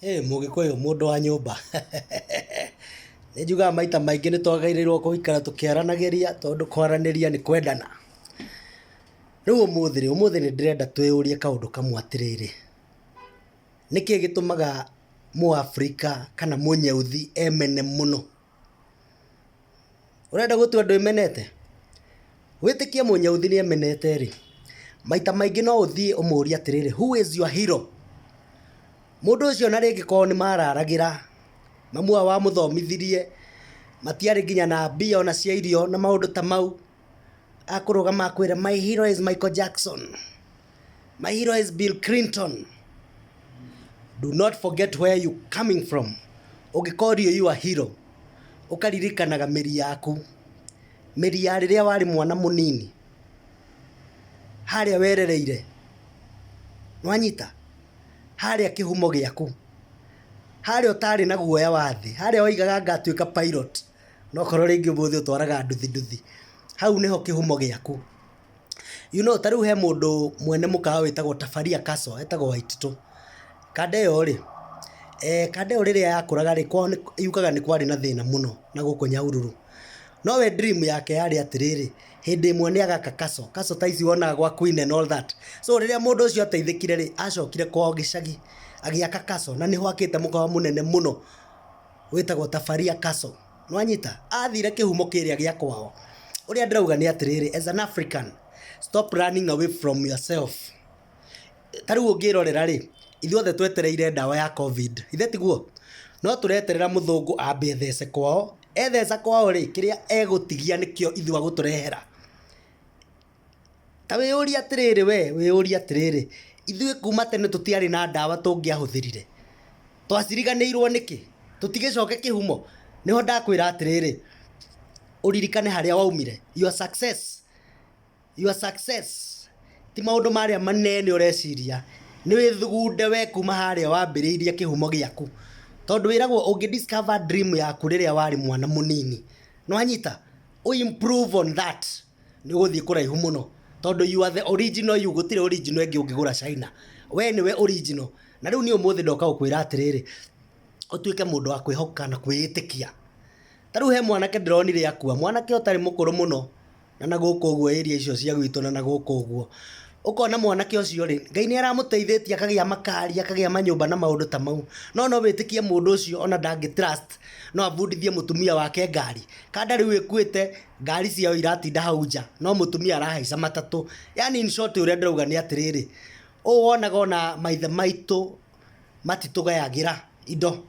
Hĩ mũgĩkũyũ mũndũ wa nyũmba. Nĩ njugaga maita maingĩ nĩ twagĩrĩirwo gũikara tũkĩaranagĩria tondũ kwaranĩria nĩ kwendana. Rĩu ũmũthĩ rĩ, ũmũthĩ nĩ ndĩrenda twĩyũrie kaũndũ kamwe atĩrĩrĩ, nĩ kĩĩ gĩtũmaga Mũafrika kana Mũnyauthi emene mũno? Ũrenda gũtua andũ ĩmenete? Wĩtĩkie mũnyauthi nĩ emenete rĩ, maita maingĩ no ũthiĩ ũmũrie atĩrĩrĩ, who is your hero? Mũndũ ũcio na rĩngĩ korwo nĩ mararagĩra, mamu wao amũthomithirie, matiarĩ nginya na mbia ona cia irio na maũndũ ta mau, akũrũgama akwĩre my hero is Michael Jackson my hero is Bill Clinton do not forget where you coming from ũngĩkorio you are hero ũkaririkanaga mĩri yaku mĩri ya rĩrĩa warĩ mwana mũnini harĩa werereire nwanyita harĩa kĩhumo gĩaku harĩa ũtarĩ na guoya wa thĩ harĩa waigaga ngatuĩka pilot Na okorwo rĩngĩ ũmũthĩ ũtwaraga nduthi nduthi, hau nĩho kĩhumo gĩaku. You know ta rĩu he mũndũ mwene mũkawa wĩtagwo Tafaria Castle, etagwo Waititũ. Kanda ĩyo rĩ, kanda ĩyo rĩrĩa yakũraga rĩ, kwao nĩ, yugaga nĩ kwarĩ na thĩna mũno na gũkũ Nyahururu. No we dream yake yarĩ atĩrĩrĩ, hĩndĩ ĩmwe nĩ agaka castle, castle ta ici wonaga gwa Queen and all that. So rĩrĩa mũndũ ũcio ateithĩkire rĩ, acokire kwao gĩcagi, agĩaka castle, na nĩho akĩte mũkawa mũnene mũno. Wĩtagwo Tafaria Castle. Nĩwanyita? Athire kĩhumo kĩrĩa gĩa kwao. Ũrĩa ndĩrauga nĩ atĩrĩrĩ, as an African, stop running away from yourself. Ta rĩu ũngĩrorera rĩ, ithuothe twetereire ndawa ya Covid. Githĩ tiguo? No tũreterera mũthũngũ ambe ethece kwao. Etheca kwao rĩ, kĩrĩa egũtigia nĩkĩo ithuĩ agũtũrehera. Ta wĩyũrie atĩrĩrĩ we, wĩyũrie atĩrĩrĩ, ithuĩ kuma tene tũtiarĩ na ndawa tũngĩahũthĩrire? Twaciriganĩirwo nĩkĩ? Tũtigĩcoke kĩhumo? Nĩho ndakwĩra atĩrĩrĩ, ũririkane harĩa waumire. Your success, your success ti maũndũ marĩa manene ũreciria. Nĩ wĩthugunde we kuma harĩa wambĩrĩirie kĩhumo gĩaku. Tondũ wĩragwo ũngĩ discover dream yaku rĩrĩa warĩ mwana mũnini. Nĩwanyita? Ũ improve on that. nĩ ũgũthiĩ kũraihu mũno tondũ you are the original you gũtirĩ original ĩngĩ ũngĩgũra China. We nĩwe original. Na rĩu niĩ ũmũthĩ ndoka gũkwĩra atĩrĩrĩ, ũtuĩke mũndũ wa kwĩhoka na kwĩĩtĩkia. Ta rĩu he mwanake ndĩronire akua, mwanake ũtarĩ mũkũrũ mũno, na na gũkũ ũguo area icio cia gwitũ na na gũkũ ũguo. Ũkona mwanake ũcio rĩ, Ngai nĩ aramũteithĩtie akagĩa makari, akagĩa manyũmba na maũndũ ta mau. No no wĩtĩkie mũndũ ũcio ona ndangĩ trust no abundithie mũtumia wake ngari? Kana ndarĩ ũĩ ĩkuĩte, ngari ciao iratinda hau nja no mũtumia arahaica matatũ. Yaani in short ũrĩa ndĩrauga nĩ atĩrĩrĩ, ũũ wonaga ona maithe maitũ matitũgayagĩra indo,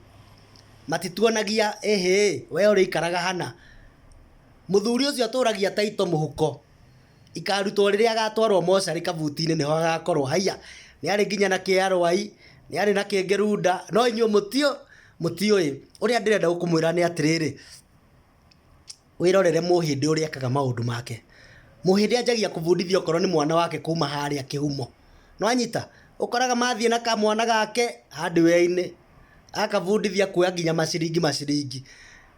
matituonagia ĩhĩ we ũrĩikaraga hana. Mũthuri ũcio atũragia taito mũhuko, ikarutwo rĩrĩa agatwarwo mocarĩ kabuti-inĩ nĩho agakorwo. Haiya, nĩ arĩ nginya na kĩarũai, nĩ arĩ na kĩngĩ runda, no inyuĩ mũtiũĩ. Ũrĩa ndĩrenda kũmwĩra nĩ atĩrĩrĩ. Wĩrorere mũhĩndĩ ũrĩa ekaga maũndũ make. Mũhĩndĩ anjagia kũbundithia okorwo nĩ mwana wake kuma harĩa kĩhumo. Nĩ wanyita? Ũkoraga mathiĩ na kamwana gake hardware-inĩ, agakabundithia kuoya nginya maciringi maciringi.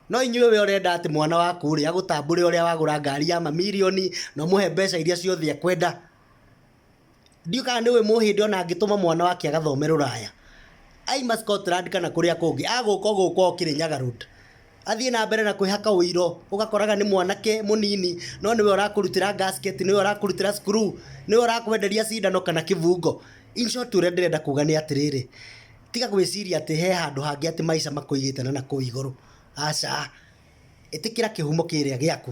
No inyuĩ we ũrenda atĩ mwana waku rĩ, agũtambũre ũrĩa wagũra ngari ya mamirioni, na ũmũhe mbeca iria ciothe ekwenda. Ndiũĩ kana nĩũĩ mũhĩndĩ ona angĩtũma mwana wake agathome rũraya, aima Scotland kana kũrĩa kũngĩ, agũka o gũkũ o Kĩrĩnyaga Road, athiĩ na mbere na kwĩhaka ũiro, ũgakoraga nĩ mwanake mũnini, no nĩwe ũrakũrutĩra gasket, nĩwe ũrakũrutĩra screw, nĩwe ũrakwenderia cindano kana kĩbungo. In short ũrĩa ndĩrenda kuga nĩ atĩrĩrĩ, tiga gwĩciria atĩ he handũ hangĩ atĩ maica makũigĩte na nakũu igũrũ, aca. Ĩtĩkĩra kĩhumo kĩrĩa gĩaku,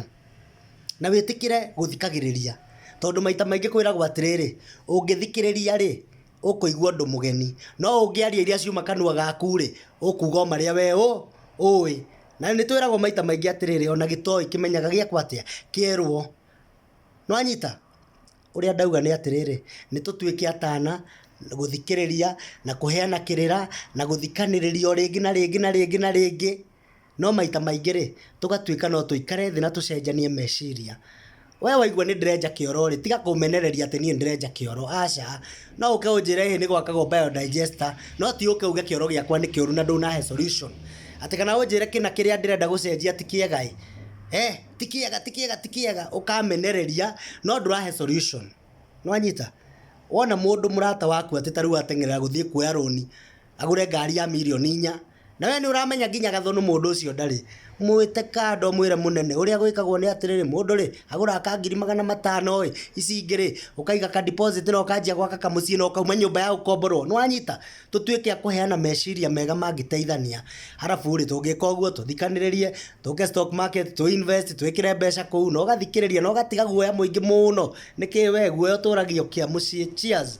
na wĩtĩkĩre gũthikagĩrĩria, tondũ maita maingĩ kwĩragwo atĩrĩrĩ, ũngĩthikĩrĩria rĩ, ũkũigua ũndũ mũgeni, no ũngĩaria iria ciuma kanua gaku rĩ, ũkuuga o marĩa we ũĩ. Na nĩ twĩragwo maita maingĩ atĩrĩrĩ, ona gĩtoĩ kĩmenyaga gĩekwo atĩa? Kĩerwo. Nĩ wanyita? Ũrĩa ndauga nĩ atĩrĩrĩ, nĩ tũtuĩke atana, gũthikĩrĩria, na kũheana kĩrĩra, na gũthikanĩrĩria o rĩngĩ na rĩngĩ na rĩngĩ na rĩngĩ. No maita maingĩ-rĩ, tũgatuĩka no tũikare thĩ na tũcenjanie meciria. Wee waigua nĩ ndĩrenja kĩoro-rĩ, tiga kũmenereria atĩ niĩ nĩ ndĩrenja kĩoro, aca. No ũke ũnjĩre ĩĩ nĩ gwakagwo biodigester, no ti ũke uge kĩoro gĩakwa nĩ kĩũru na ndũnahe solution. Atĩ kana ũnjĩre kĩna kĩrĩa ndĩrenda gũcenjia ti kĩega-ĩ, eeh, ti kĩega, ti kĩega, ti kĩega, ũkamenereria no ndũrahe solution. Nĩwanyita? Wona mũndũ mũrata waku atĩ ta rĩu ateng'erera gũthiĩ kuoya rũni. agũre ngari ya mirioni inya, na we nĩ ũramenya nginya gathũnũ mũndũ ũcio ndarĩ, mwĩte kando ũmwĩre mũnene ũrĩa gwĩkagwo nĩ atĩrĩrĩ, mũndũ rĩ agũraga ka ngiri magana matano ĩ, ici ingĩ rĩ ũkaiga ka deposit na ũkanjia gwaka kamũciĩ na ũkauma nyũmba ya gũkomborwo, nĩ wanyita? Tũtuĩke a kũheana meciria mega mangĩteithania, arabu rĩ tũngĩka ũguo tũthikanĩrĩrie, tũke stock market tũ invest twĩkĩre mbeca kũu na ũgathikĩrĩria na ũgatiga guoya mũingĩ mũno, nĩkĩ we guoya ũtũragio kĩa mũciĩ? Cheers.